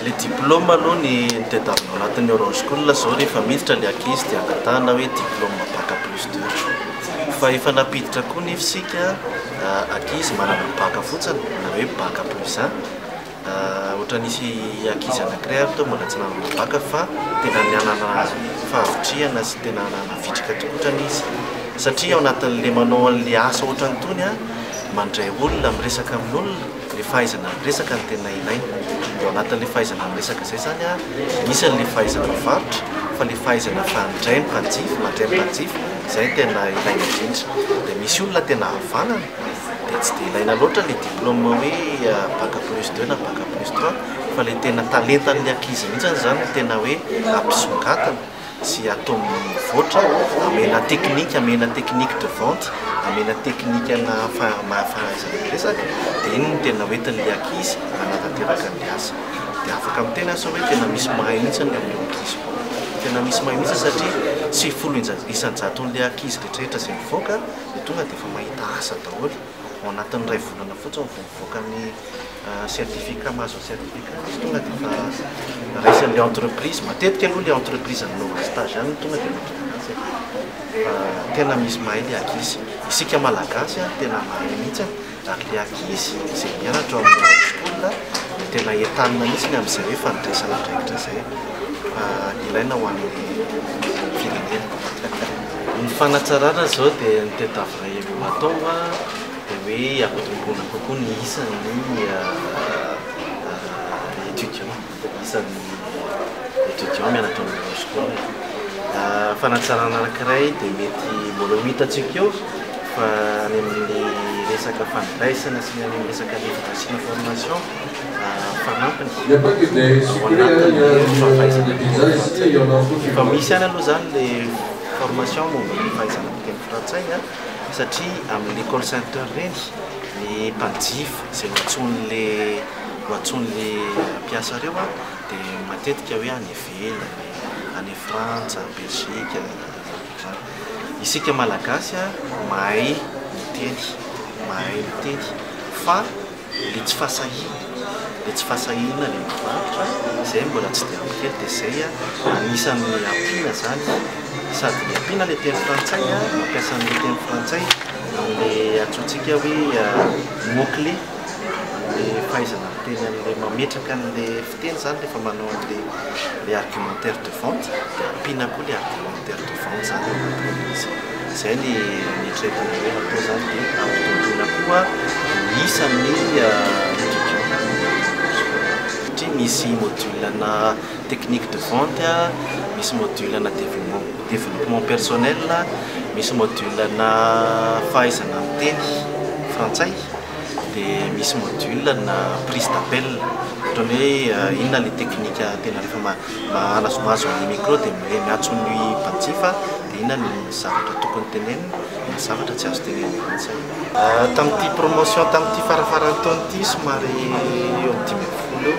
Le diplôme aloha ny tadiavina anatin'ny horoscool zao rehefa miditra le ankizy de angatahana hoe diplôme bac plus deux fa efa nampiditra koa nefa isika ankizy manana bac fotsiny na hoe bac plus un ohatra nisy ankizy anakiray ary teo mbola tsy nanana bac fa tena nanana fahavitrihana sy tena nanana vitrika tokoa otrany izy satria ao anatin'le manao an'le asa ohatran'tony mandray olona miresaka amin'olona le fahaizana miresaka no tena ilaina de ao anatin'le fahaizana miresaka zay zany a misy an'le fahaizana mivarotra fa le fahaizana fa midray ny mpanjifa mandray ny mpanjifa zay no tena ilaina indrindra de misy olona tena havanana de tsy de ilaina loatra le diplôme hoe bac plus deux na bac plus trois fa le tena talentan'le ankizy mihintsy zany no tena hoe ampisongadina tsy atao mivoatra, amena technique, amena technique de vente, amena teknikana fahaizana miresaka, dia iny no tena hoentin'ilay ankizy hanatanteraka an'ilay asa. Dia afaka miteny aho sao hoe tena misy mahay mihitsy ny amin'io ankizy io. Tena misy mahay mihitsy satria tsy folo isan-jaton'ilay ankizy rehetrarehetra izay mivoaka no tonga dia efa mahita asa daholo, ao anatin'ny iray volana fotsiny vao mivoaka. mivoaka ny certificat mahazo ny certificat izy tonga dia efa raisin'ilay entreprise matetika aloha ilay entreprise nanaovana stage any tonga dia mahazo certificat fa tena misy mahay ilay ankizy isika malagasy a tena mahay mihitsy ary ilay ankizy izay mianatra ao amin'ny high school dia tena entanina mihitsy ny amin'izay hoe fandresana andraikitra izay fa ilaina ho an'ny firenena ny fanatsarana izao dia ny tête à vrai no atao a dia hoe hampitomboina kokoa ny isan'ny étudiants, isan'ny étudiants mianatra ao amin'ireo sekoly. Fanatsarana anankiray dia mety mbola ho hitantsika eo fa any amin'ny resaka fandraisana sy ny any amin'ny resaka éducation formation fanampiny ao anatin'ny fahafaizana miteny frantsay. Efa misy ihany aloha izany ilay formation momba ny fahaizana miteny frantsay. satria amin'ny call center ireny ny mpanjifa izay ho antsoin'le ho antsoin'le mpiasa ireo dia matetika hoe any ivelany, any Frantsa, Belgique, zany. Isika Malagasy mahay miteny, mahay miteny fa. le tsy fahasahiana le tsy fahasahiana le mivarotra zay mbola tsy dia ampy kely de zay anisany ampiana zany sady le ampiana le teny frantsay mampiasa anle teny frantsay amle antsointsika hoe mot clé le fahaizana miteny anle mametraka anle Teny zany rehefa manao an'ilay le argumentaire de vente dia ampiana koa ilay argumentaire de vente zany ao anatin'ilay izy. Izay ny nieritreritra ny hoe hatao zany dia ampitomboina koa ny isan'ny étudiants ao anatin'ilay secondaire. Satria misy module ana technique de vente, misy module ana développement développement personnel, misy module ana fahaizana miteny frantsay. dia misy module ana prise d'appel ohatran'ny hoe inona ilay teknika tena rehefa mahazo ny micro dia hoe miantso ny mpanjifa dia inona ny zavatra tokony tenenina na zavatra tsy azo tenenina intsony. Tamin'ity promotion tamin'ity farafaran-taona ity somary eo amin'ny dimy ambin'ny folo eo